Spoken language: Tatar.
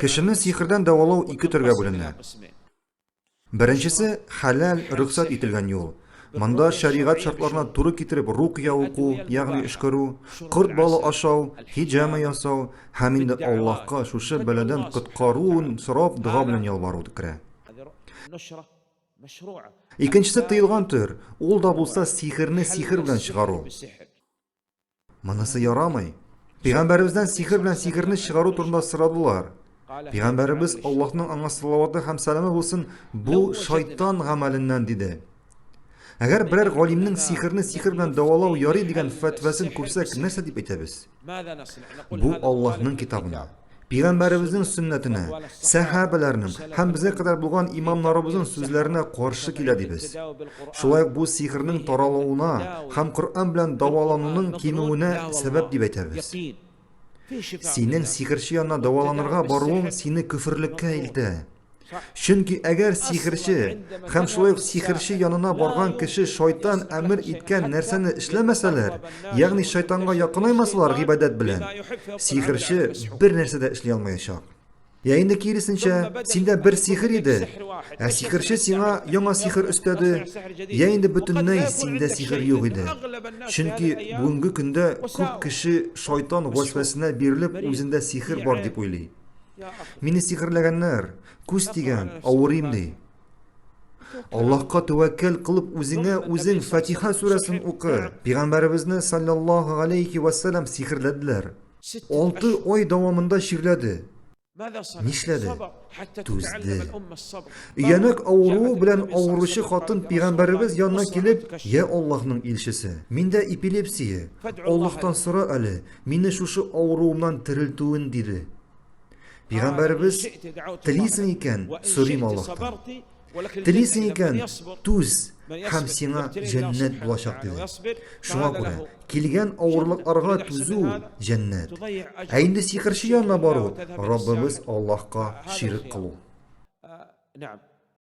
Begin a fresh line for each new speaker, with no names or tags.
Кешене сихердән дәвалау
ике төргә бүленә. Беренчесе, хәләл, рөхсәт ителгән юл. Монда шәригать шартларына туры китереп рукъя уку, ягъни өшкерү, корт балы ашау, һиҗама ясау һәм инде Аллаһка шушы бәладән коткаруын сорап дога белән ялвару керә. Икенчесе тыелган төр, ул да булса сихерне сихер белән чыгару. Монысы ярамый. Пәйгамбәребездән сихер белән сихерне чыгару турында сорадылар. Пәйгамбәребез Аллаһның аңа салаваты һәм сәламе булсын, бу шайтан гамәленнән диде. Әгәр берәр галимнең сихерне сихер белән дәвалау ярый дигән фәтвәсен күрсәк, нәрсә дип әйтәбез? Бу Аллаһның китабына. Пигамбәребезнең сөннәтенә, сәхабәләрнең һәм безгә кадәр булган имамнарыбызның сүзләренә каршы килә дибез. Шулай ук бу сихернең таралуына һәм Коръән белән давалануның кимүенә сәбәп дип әйтәбез. Синең сихерче янына даваланырга баруың сине көферлеккә илтә. Чөнки әгәр сихерче һәм шулай ук сихерче янына барган кеше шайтан әмер иткән нәрсәне эшләмәсәләр, ягъни шайтанга якынаймасалар гыйбадәт белән, сихерче бер нәрсә дә эшли алмаячак. Я инде киресенчә, синдә бер сихер иде, ә сихерче сиңа яңа сихер өстәде, я инде бөтенләй синдә сихер юк иде. Чөнки бүгенге көндә күп кеше шайтан вәсвәсенә бирелеп, үзендә сихер бар дип уйлый. Мине сихерләгәннәр, күз тигән, авырыйм ди. Аллаһка тәвәккәл кылып үзеңә үзең Фатиха сүрәсен укы. Пәйгамбәребезне саллаллаһу алейхи ва саллям сихерләделәр. 6 ай дәвамында чирләде. Нишләде? Түзде. Өянәк авыруы белән авыручы хатын пәйгамбәребез янына килеп, "Я Аллаһның илчесе, миндә эпилепсия. Аллаһтан сора әле, Мине шушы авыруымнан терелтүен диде. Пигамбәребез телисең икән, сорыйм Аллаһтан. Телисең икән, түз һәм сиңа җәннәт булачак диде. Шуңа күрә килгән авырлыкларга түзү җәннәт. Ә инде сихерче янына бару Раббыбыз Аллаһка ширк кылу.